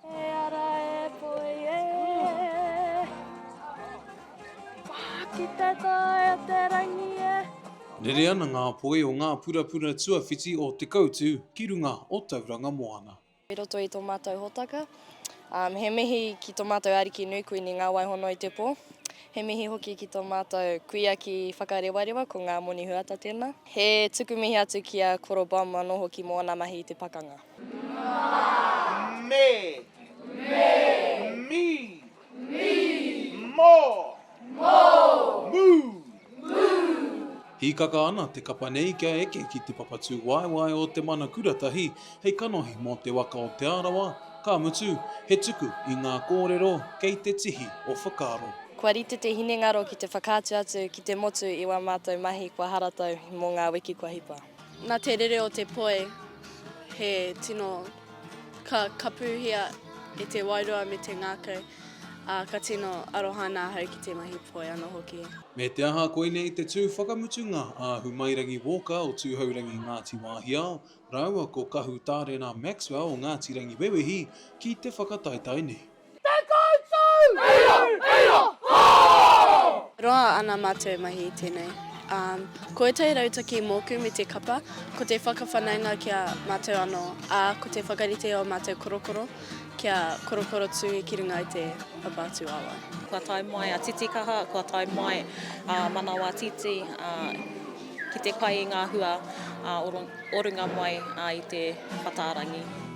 He ara e poi e. Ki te tae o te rangi e. Rere ana ngā poi o ngā purapura tuawhiti o Te Koutu ki runga o Tauranga Moana. I roto i tō mātou hōtaka. He mihi ki tō mātou Ariki nui Kuini Ngāwaihonoi-te-pō. He mihi hoki ki tō mātou kuia ki Whakarewarewa, ko Ngā Moni Huata tēnā. He tuku mihi atu ki a Koro Bum anō hoki mō ana mahi i te pakanga. me, mi, mo, mu, Hīkaka ana te kapa nei kia eke ki te papatū waewae o te mana kuratahi hei kanohi mō te waka o Te Arawa, ka mutu, he tuku i ngā kōrero kei te tihi o whakaaro. Kua rite te hinengaro ki te whakaatu atu ki te motu i wā mātou mahi kua haratau mō ngā wiki kua hipa. Na te rere o te poi he tino ka kapuhia e te wairua me te ngakau, a ka tino aroha ana ahau ki te mahi poi ano hoki. Me te aha koinei te tū whakamutunga a Humairangi Walker o Tūhourangi Ngāti Wāhiao rāua ko Kahu Tārena Maxwell o Ngāti Rangiwewehi ki te whakataetae nei. Te koutou! Eia! Eia! Hoo! Roa ana matou mahi i tenei. Um, ko etai rautaki moku me te kapa, ko te whakawhanaunga ki a matou ano, a ko te whakarite o matou korokoro kia korokoro tu ki runga i te papa atu awa. Kua tae mai a Titikaha, kua tae mai a Manawatiti ki te kai i nga hua o runga mai i te Pataarangi.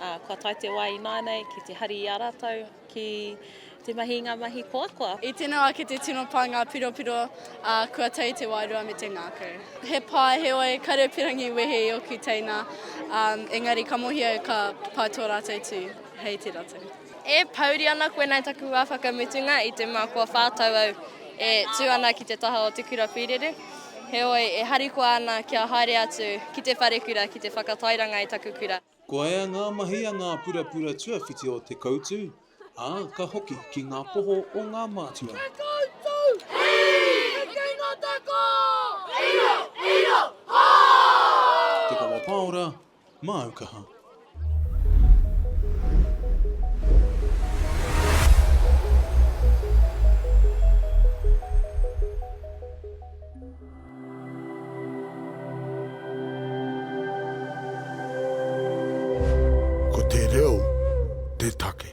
Ā, kua tae te wā ināianei ki te hari i a rātou ki te mahi i ngā mahi koakoa. I tino ake te tino pā ngā piropiro, ā, kua tae te wairua me te ngākau. He pai, heoi, Karepirangi wehe i ōku teina, ā, engari ka mohi au ka pai tō rātou tū, hei te ratou. E pouri ana koinei taku wā whakamutunga i te mea kua whā tau au e tū ana ki te taha o Te Kura Pīrere, heoi, e harikoa ana kia haere atu ki te wharekura ki te whakatairanga i taku kura. Ko ea ngā mahi a ngā purapura tuawhiti o Te Koutu, ā, ka hoki ki ngā poho o ngā mātua. Te Koutu! Hei! Te Kino Te Ko! Iro! Iro! Hā! Te Kawa Paora, Māu Kaha. Ko te reo te take.